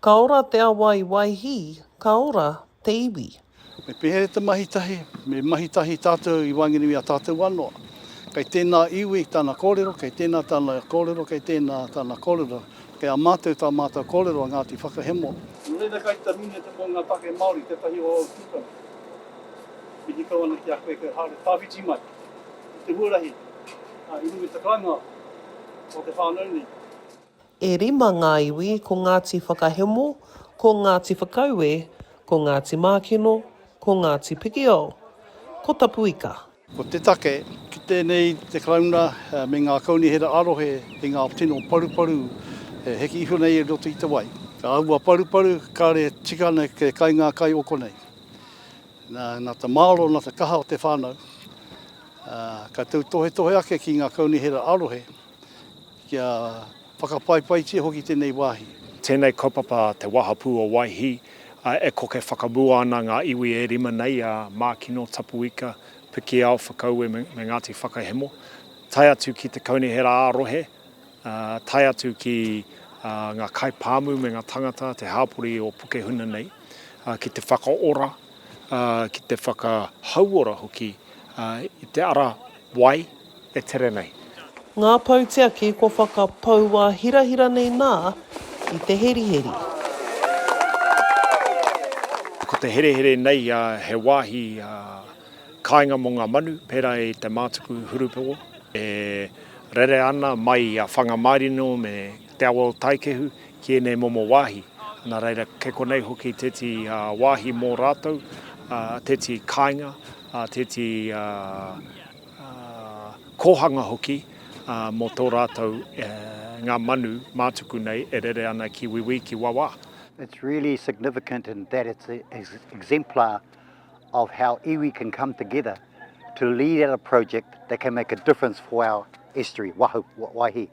Ka ora te awa i Waihī, ka ora te iwi. Me pēhea te mahi tahi? Me mahi tahi tātou i waenganui i a tātou anō. Kei tēnā iwi tana kōrero, kei tēnā tana kōrero, kei tēnā tana kōrero. Kei a mātou tā mātou kōrero a Ngāti Whakahemo. Nō reira kai te nui atu mō ngā take Māori tētahi o ōu tūpuna. Mihi kau ana ki a koe kei haere tawhiti mai i te huarahi i runga i te kāinga o te whānau nei. E rima ngā iwi, ko Ngāti Whakahemo, ko Ngāti Whakaue, ko Ngāti Mākino, ko Ngāti Pikiao, ko Tapuika. Ko te take, ki tēnei te Karauna me ngā kaunihera ā-rohe i ngā tino paruparu e heke iho nei i roto i te wai. Ka āhua paruparu, kāre e tika ana te kai ngā kai o konei. Nā, nā te māro, nā te kaha o te whānau, ā, ka tautohetohe ake ki ngā kaunihera ā-rohe. kia whakapaepaitia hoki tenei wahi. Tenei kaupapa te Wahapu o Waihi, e koke whakamua ana nga iwi e rima nei a Makino, Tapuika, Pikiao, Whakaue me Ngati Whakahemo, tae atu ki te Kaunihera a rohe, tae atu ki nga kai pamu me nga tangata te hapori o Pukehuna nei, ki te whakaora, ki te whakahauora hoki i te ara wai. e tere nei. Ngā pou tiaki kua whakapoua hirahira nei nā i te heriheri. Ko te herehere nei he wāhi kāinga mō ngā manu, pērā i te mātuku hurupowo e rere ana mai i a Whangamārino me Te Awa o Taikehu ki ēnei momo wāhi. Nā reira, kei konei hoki tēti wāhi mō rātou, tēti kāinga, tēti. kōhanga hoki mō tō rātou ngā manu mātuku nei e rere ana ki Wīwī, ki Wawā. It's really significant in that it's an exemplar of how iwi can come together to lead out a project that can make a difference for our estuary, Waihi.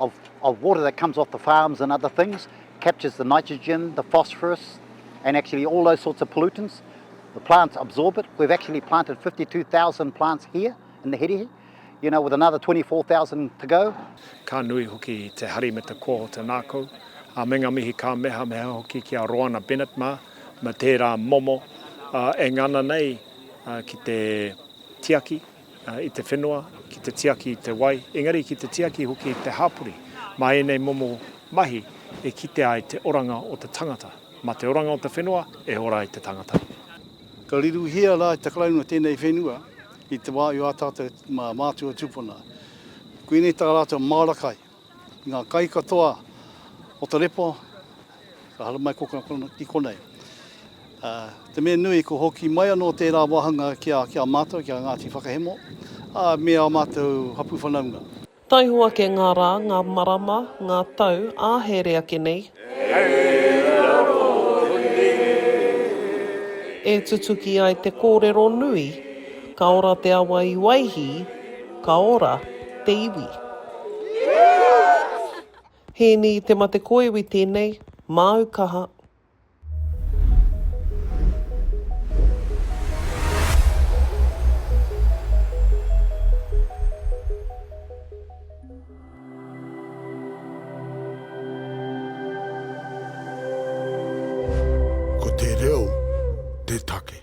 of of water that comes off the farms and other things captures the nitrogen, the phosphorus and actually all those sorts of pollutants. The plants absorb it. We've actually planted 52,000 plants here in the Hirihi, you know, with another 24,000 to go. Ka nui hoki te hari me te koa o te nākou. A me ngā mihi ka meha meha hoki ki a Roana Bennett mā, me tērā momo uh, e ngana nei uh, ki te tiaki. i te whenua, ki te tiaki i te wai, engari ki te tiaki hoki i te hapori, mā ēnei momo mahi e kite ai te oranga o te tangata. Mā te oranga o te whenua e ora ai te tangata. Ka riruhia rā te Karauna tēnei whenua i te wā i ā tātou mātua tūpuna. Koinei tā rātou māra kai. Ngā kai katoa o te repo ka haramai ko ki konei. Te mea nui, ko hoki mai anō tērā wāhanga ki a mātou, ki a Ngāti Whakahemo, me ā mātou hapū whanaunga. Taihoa kē ngā rā, ngā marama, ngā tau, ā, here ake nei. E tutuki ai te kōrero nui, Ka ora te awa i Waihī, ka ora te iwi. Hēni i te mate ko iwi tēnei, māu kaha. Ko te reo te take.